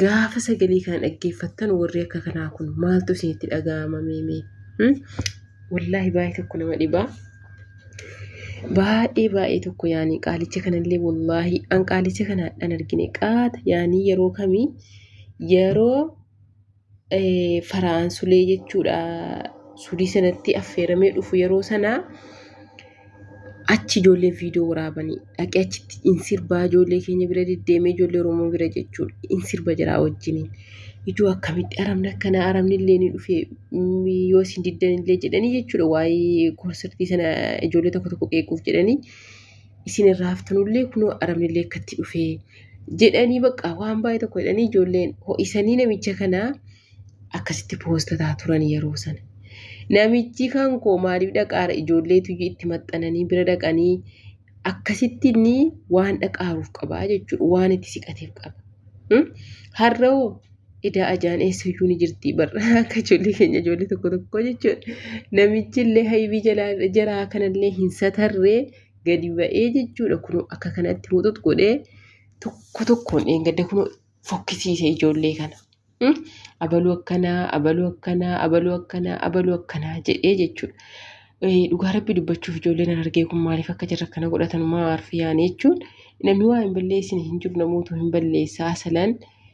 Gaafa sagalee kana dhaggeeffattan warri akka kanaa kun maaltu isinitti dhaga'ama meemee? Hmm? Wallaahi baay'ee tokko nama dhibaa. Baay'ee baay'ee tokko yaani qaalicha kanallee wallaahi an qaalicha kana hadhaan argine qaata yaani yeroo kamii yeroo Fara'aan Sulee jechuudha sudii sanatti affeeramee dhufu yeroo sanaa achi ijoollee viidiyoo waraabanii dhaqee achitti in sirbaa ijoollee keenya bira deddeemee ijoollee Oromoo bira jechuudha in sirba jiraa wajjiniin. Ijoo akkamitti aramni akkana aramni illee ni dhufe yoo isin diddan illee jedhanii jechuudha waa'ee konsartii sana ijoollee tokko tokko qeequuf jedhanii isin irraa haftanullee kunoo arabnillee akkatti dhufee jedhanii baqqaa waan baay'ee tokko jedhanii ijoolleen ho'isanii namicha kanaa akkasitti poostataa turan yeroo sana. Namichi kan koo maaliif dhaqaara ijoolleetu itti maxxananii bira dhaqanii akkasitti inni waan dhaqaaruuf qabaa jechuudha waan itti siqateef qaba. Har'oo idaa ajaan eessuyyuu ni jirti barra akka ijoollee keenya ijoollee tokko tokko jechuudha. Namichi illee haybii jalaa jaraa kanallee hin satarree gadi ba'ee jechuudha kunoo akka kanatti muxux godhee tokko tokkoon dheengadda kunoo fokkisiise ijoollee kana. Hmm? Abaluu akkanaa, abaluu akkanaa, abaluu akkanaa, abaluu akkanaa jedhee jechuudha. Eh, Dhugaa rabbi dubbachuuf ijoolleen an argee kun maaliif akka jirra kana godhatan maa arfiyaan jechuun namni waa hin balleessine hin jiru namootu hin balleessaa salan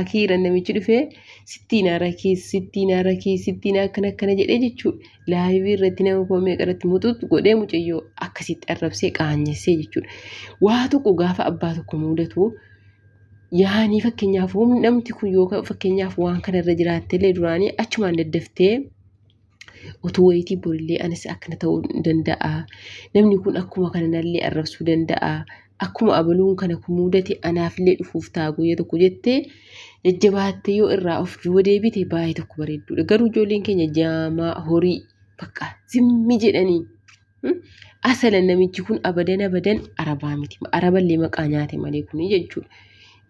Akiira namichi dhufee sittiin arakii sittiin arakii sittiin akkana akkana jedhee jechuudha. Laayivii irratti nama koo meeqa irratti muxuux godhee mucayyoo akkasitti arrabsee qaanyessee jechuudha. Waa tokko gaafa abbaa tokko mudatu yaanii fakkeenyaaf humni namti kun yoo fakkeenyaaf waan kana irra jiraattellee duraanii achumaan daddaftee utuu wayitii borillee anis akkana ta'uu danda'a namni kun akkuma kana nallee arrabsuu danda'a akkuma abaluun kana kun mudate anaafillee dhufuuf ta'a guyyaa tokko jettee jajjabaattee yoo irraa of duuba deebite baay'ee tokko bareedduudha garuu ijoolleen keenya jaamaa horii bakka zimmi jedhanii Asalan namichi kun abadan abadan arabaa miti. Araballee maqaa nyaate malee kun jechuudha.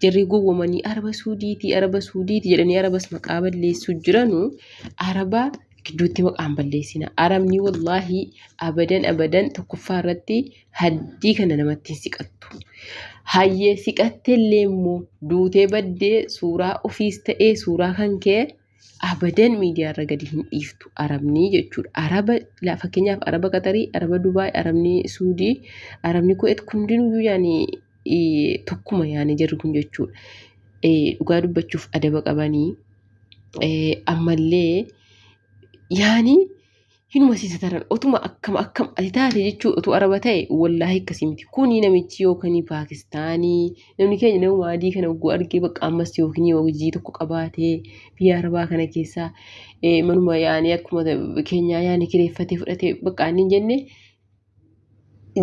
Jarri gowwomanii araba suudiiti araba suudiiti jedhanii arabas maqaa balleessuu jiranu araba gidduutti maqaan balleessina. Arabni wallaahi abadan abadan tokkoffaa irratti haddii kana namatti hin siqattu. Hayyee siqatte illee immoo duutee baddee suuraa ofiis ta'ee suuraa kan kee abadan miidiyaa irra gadi hin dhiiftu arabnii jechuudha. Araba la- fakkeenyaaf araba Qatarii, araba Dubaay, arabni Suudii, arabni Kuweet kun hundinuu yaani eh, tokkuma yaani jarri kun jechuudha. Eh, Dhugaa dubbachuuf adaba qabanii eh, ammallee yaani hinuma si sataran otuma akkam akkam ati taate jechuu otuu araba ta'e wallaahi akkasii miti kuni namichi yookiin paakistaanii namni keenya nama adii kana ogguu argee bakka ammas yookiin hojii tokko qabaatee biyya arabaa kana keessaa manuma yaanii akkuma keenyaa yaanii kireeffatee fudhatee bakka aannin jenne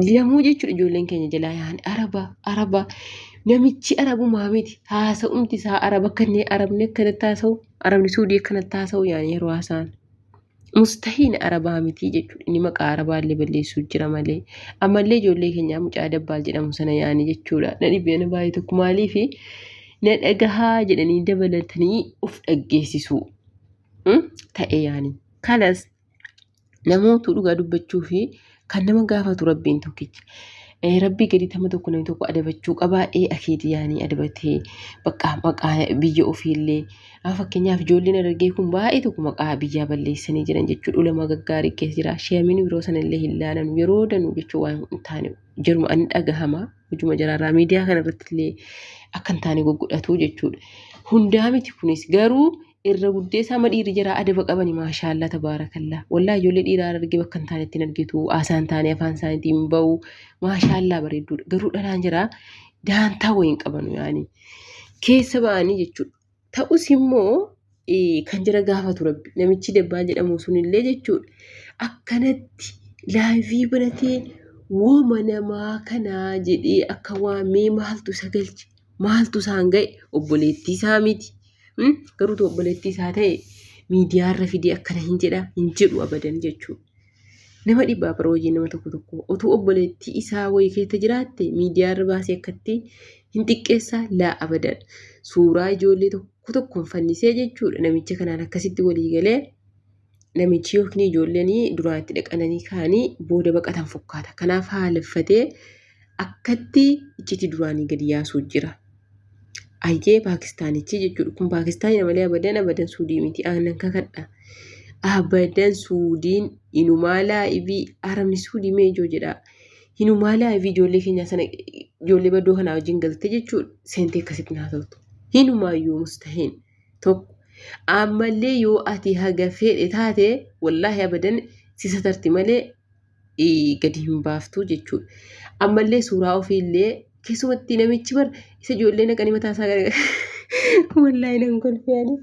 Lamuu jechuudha ijoolleen keenya jalaa yaa'an araba araba namichi arabumaa miti haasa'umti isaa araba akka inni arabni akkanatti haasa'u arabni suudii akkanatti haasa'u yaa'an yeroo haasa'an. Mustahiin arabaa miti jechuudha inni maqaa arabaa illee balleessuu jira malee ammallee ijoollee keenyaa mucaa dabbaal jedhamu sana yaa'anii jechuudha na dhibee na baay'ee tokko maaliifi na dhagahaa jedhanii dabalatanii of dhaggeessisuu ta'ee yaa'anii kanas namootu dhugaa dubbachuu fi kan nama gaafatu rabbiin tokkicha. Eh, rabbii gadi tama tokko namni tokko adabachuu qabaa ee eh, akeeti yaanii adabatee baqqaa maqaa biyya ofiillee ah, fakkeenyaaf ijoolleen argee kun baay'ee tokko maqaa biyyaa balleessanii jiran jechuudha ulama gaggaarii keessa jira sheemin biroo sanallee hin laalan yeroo danuu jechuu waan hin taane jiruma ani dhagahama hojuma jaraarraa miidiyaa kanarratti illee akka hin taane goggodhatu jechuudha hundaa miti kunis garuu irra guddeessaa ma dhiirri jara adaba qabani maashaallaa tabaarakallaa wallaa ijoollee dhiiraa arge bakka hin taanetti hin argitu haasaan taane afaan isaaniitii hin ba'u maashaallaa bareedduudha garuu dhalaan jira daantaa wayii hin qabanu yaani keessa ba'anii jechuudha ta'us immoo eh, kan jira gaafatu rabbi namichi dabbaa jedhamu sunillee jechuudha akkanatti laayivii banatee wooma namaa kanaa jedhee akka waamee maaltu isa galche maaltu isaan ga'e obboleettii isaa miti garuu tu obboleettii isaa ta'e miidiyaa irra fidee akkana hin jedha hin jedhu abadan jechuudha. Nama dhibbaa bara hojii nama tokko tokko otuu obboleettii isaa wayii keessa jiraatte miidiyaa irra baasee akkatti hin xiqqeessaa laa abadan suuraa ijoollee tokko tokkoon fannisee jechuudha namicha kanaan akkasitti walii galee namichi yookiin ijoolleen duraa itti dhaqananii ka'anii booda baqatan fakkaata. Kanaaf haaleffatee akkatti iccitii duraanii gadi yaasuu jira. Ayyee Paakistaanichi jechuudha. Kun Paakistaanii malee abadan abadan suudii miti. Aannan kakadha. Abadan suudiin inumaa laa'ivii arabni suudii mee ijoo jedha. Inumaa laa'ivii ijoollee keenyaa sana ijoollee baddoo kanaa wajjin galte jechuudha. Seentee akkasitti naa ta'utu. Hinumaayyuu mustahiin. tokko ammallee yoo ati haga fedhe taate wallaahi abadan si satarti malee ii, gadi hin baaftu jechuudha. Ammallee suuraa ofiillee keessumatti namichi bar isa ijoollee naqanii mataa isaa gara wallaahi nan kolfeani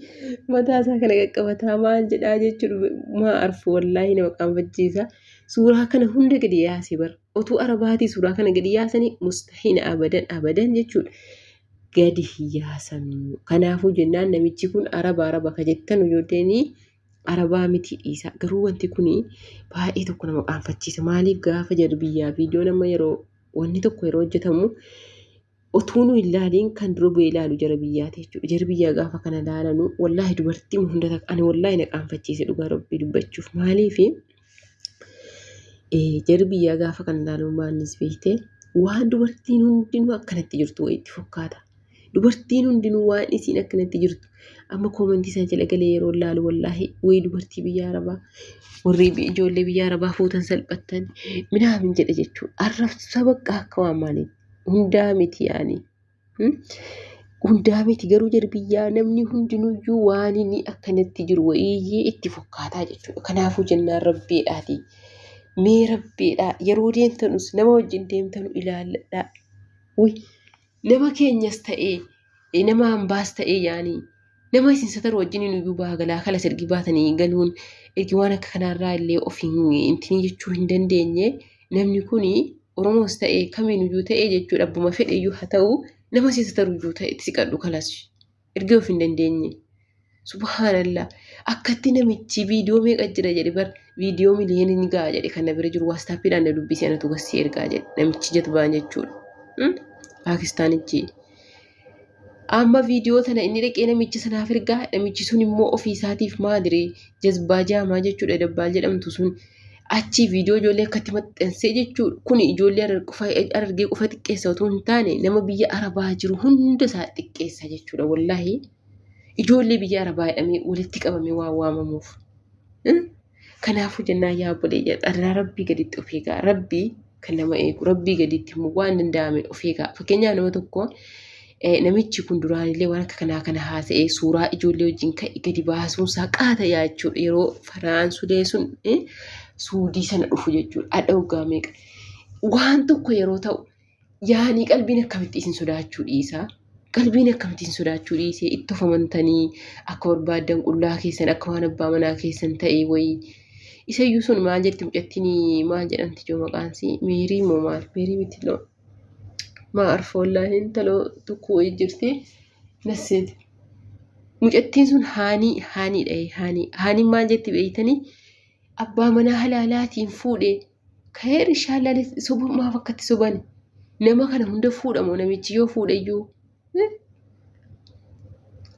mataa isaa kana qaqqabataa maal jedhaa jechuudha maa arfu wallaahi nama qaanfachiisa. Suuraa kana hunda gadi yaase bar otuu arabaatii suuraa kana gadi yaasanii mustahiina abadan abadan jechuudha. gadi hin yaasanu. Kanaafuu jennaan namichi kun araba araba ka jettanu yoo ta'e arabaa miti dhiisa. Garuu wanti kun baay'ee tokko nama qaanfachiisa. Maaliif gaafa jedhu biyyaa viidiyoon amma yeroo wanni tokko yeroo hojjetamu otuu nu ilaaliin kan dura bu'ee ilaalu jara biyyaati jechuudha. Jara biyyaa gaafa kana ilaalanu wallaahi dubartii hunda takka ani wallaahi na qaanfachiise dhugaa rabbii dubbachuuf maaliifi Jarri biyyaa gaafa kan ilaaluun baannis beekte waan dubartiin hundinuu akkanatti jirtu wayiitti fakkaata. Dubartiin hundinuu waan isiin akkanatti jirtu amma koomantii isaa jala galee yeroo ilaalu wallaahi wayii dubartii biyya arabaa warri ijoollee biyya arabaa fuutan salphattan minaamin jedha jechuudha. Arrabsa bakka akka waan maaliin hundaa miti yaani. Hundaa miti garuu jarbiyyaa namni hundinuyyuu waan inni akkanatti jiru wayiyyee itti fokkaataa jechuudha. Kanaafuu jennaan rabbiidhaati. Mee rabbiidhaa yeroo deemtanus nama wajjin deemtanu ilaalladhaa. Nama keenyas ta'ee nama hambaas ta'ee yaanii Nama isin sataru wajjiniin iyyuu baha galaa kalas ergi baatanii galuun ergi waan akka kanaarraa illee of hin intinii jechuu hin dandeenye namni kun Oromoos ta'e kamiin iyyuu ta'e jechuudha abbuma fedhe iyyuu haa ta'u nama isin sataru iyyuu ta'e itti siqadhu kalas ergi of hin dandeenye. Subhaanallah akkatti namichi viidiyoo meeqa jira jedhe bar viidiyoo miliyoonii ni ga'a jedhe kan na bira jiru waastaappiidhaan na dubbisee anatu gassee ergaa jedhe namichi jatbaan jechuudha. Paakistaanichi. Amma viidiyoo tana inni dhaqee namicha sanaaf ergaa namichi sun immoo ofii isaatiif maadire jazbaa jaamaa jechuudha dabbaal jedhamtu sun achii viidiyoo ijoollee akkatti maxxansee jechuudha kun ijoollee arargee qofa xiqqeessa otoo hin taane nama biyya arabaa jiru hunda isaa xiqqeessa jechuudha wallaahi ijoollee biyya arabaa jedhamee walitti qabamee waa waamamuuf. Kanaafuu jennaan yaa obboleeyya dharraa rabbii gaditti of eegaa rabbii kan nama eegu rabbii gaditti immoo waan danda'ame of eegaa fakkeenyaa nama tokko namichi kun duraanillee waan akka kanaa kana haasa'ee suuraa ijoollee wajjin ka'e gadi baasuun isaa qaata yaa jechuudha yeroo faraan sudee sun suudii sana dhufu jechuudha adha hoggaa meeqa waan tokko yeroo ta'u yaanii qalbiin akkamitti isin sodaachuu dhiisaa qalbiin akkamitti isin sodaachuu dhiisee itti of amantanii akka barbaaddan qullaa keessan akka waan abbaa manaa keessan ta'e wayii isayyuu sun maal jedhti mucattiin maal jedhamti joo maqaansii meerii moo maal meerii miti loo maa arfoollaa hin taloo tokko wayii jirti nasseeti mucattiin sun haanii haanii dha'e haanii haanii maal jetti beeytanii abbaa manaa halaalaatiin fuudhee Kaheer ishaallaan sobuu maaf akkatti sobani nama kana hunda fuudhamoo namichi yoo fuudhayyuu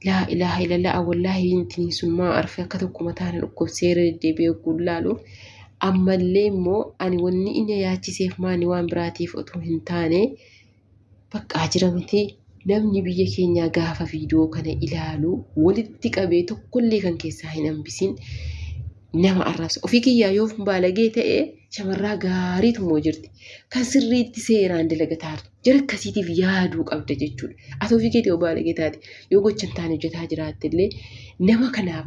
laa ilaaha illallah wallaahi intiin sun maa arfe akka tokko mataa na dhukkubsee deddeebi'ee ogguun laalu ammallee immoo ani wanni inni yaachiseef maani waan biraatiif otoo hin taane Baqqaa jira miti namni biyya keenyaa gaafa viidiyoo kana ilaalu walitti qabee tokkollee kan keessaa hin hambisiin nama arrabsa. Ofii kiyyaa yoo baalagee ta'e shamarraa gaariitu moo jirti. Kan sirriitti seeraan dalagataa jirti. Jara akkasiitiif yaaduu qabda jechuudha. Ati ofii keetii yoo baalagee taate yoo gocha hin taane hojjetaa jiraatte illee nama kanaaf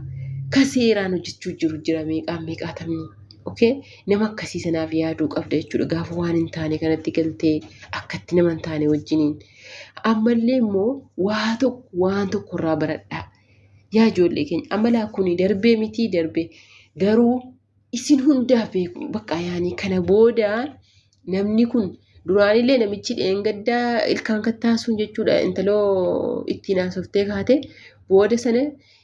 kan seeraan hojjechuu jiru jira meeqaa meeqaatamni. Okay? Nama akkasii sanaaf yaaduu qabda jechuudha. Gaafa waan hin taane kanatti galtee akkatti nama hin taane wajjiniin. Ammallee immoo waa tokko waan tokko irraa baradhaa. Yaa ijoollee keenya amalaa kuni darbee mitii darbee garuu isin hundaaf beeku bakka yaanii kana booda namni kun duraanillee namichi dheengaddaa ilkaan kattaasuun jechuudha intaloo ittiin haasoftee kaate booda sana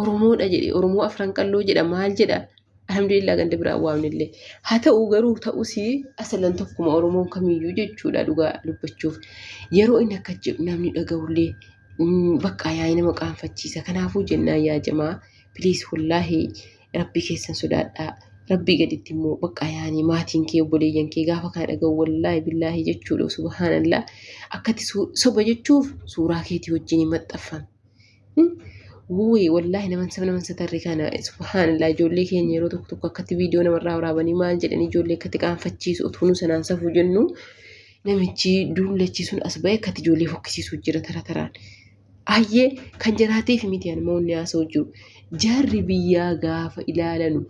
Oromoodha jedhe Oromoo Afran Qalloo jedha maal jedha alhamdulillah ganda biraa waamnillee haa ta'u garuu ta'us asalan tokkuma Oromoon kamiyyuu jechuudha dhugaa dubbachuuf yeroo inni akka jedhu namni dhaga'ullee bakka yaa'ii nama qaanfachiisa kanaafuu jennaan yaa jamaa piliis wallaahi rabbii keessan sodaadhaa rabbii gaditti immoo bakka yaa'anii maatiin kee obboleeyyan kee gaafa kana dhaga'u wallaahi billaahi jechuudha subhaanallah akkatti soba jechuuf suuraa keetii wajjin maxxanfame. Wuuyi wallaahi naman sab naman satarri kana subhaanallah ijoollee keenya yeroo tokko tokko akkatti viidiyoo namarraa waraabanii maal jedhanii ijoollee akkatti qaanfachiisu utuu nu sanaan safuu jennu namichi duullachi sun as ba'e akkatti ijoollee fokkisiisu jira tara taraan. Ayyee kan jaraatiif miti ani moonni haasa'u jiru. Jarri biyyaa gaafa ilaalanu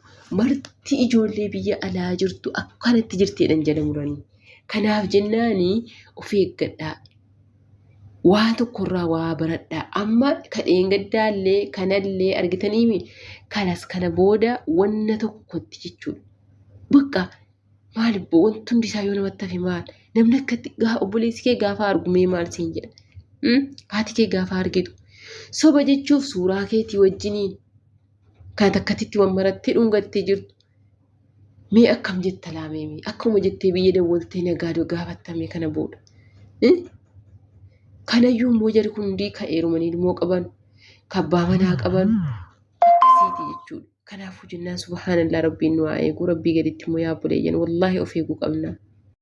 marti ijoollee biyya alaa jirtu akkanatti jirteedhan jala muranii. Kanaaf jennaani of eeggadhaa. waa tokkorraa waa baradhaa amma ka dheengaddaallee kanallee argitaniimi kanas kana booda wanna tokkotti jechuudha. Bakka maal ibbo wanti hundi isaa yoo namatti hafe maal namni akkatti gaa obboleessi kee gaafa argu mee maal siin jedha Hmm? haati kee gaafa argitu soba jechuuf suuraa keetii wajjiniin Kan takkatitti waan marattee dhungattee jirtu. Mee akkam jetta laamee mee akkuma jettee biyya dawwaltee nagaa gaafattame kana booda. Kanayyuu immoo jari kun hundii kan eerumanii ilmoo qaban kan abbaa manaa qaban akkasiiti jechuudha. Kanaafuu jennaan subhaanallaa rabbiin nu haa eegu rabbii gaditti immoo yaa buleeyyan wallaahi of eeguu qabna.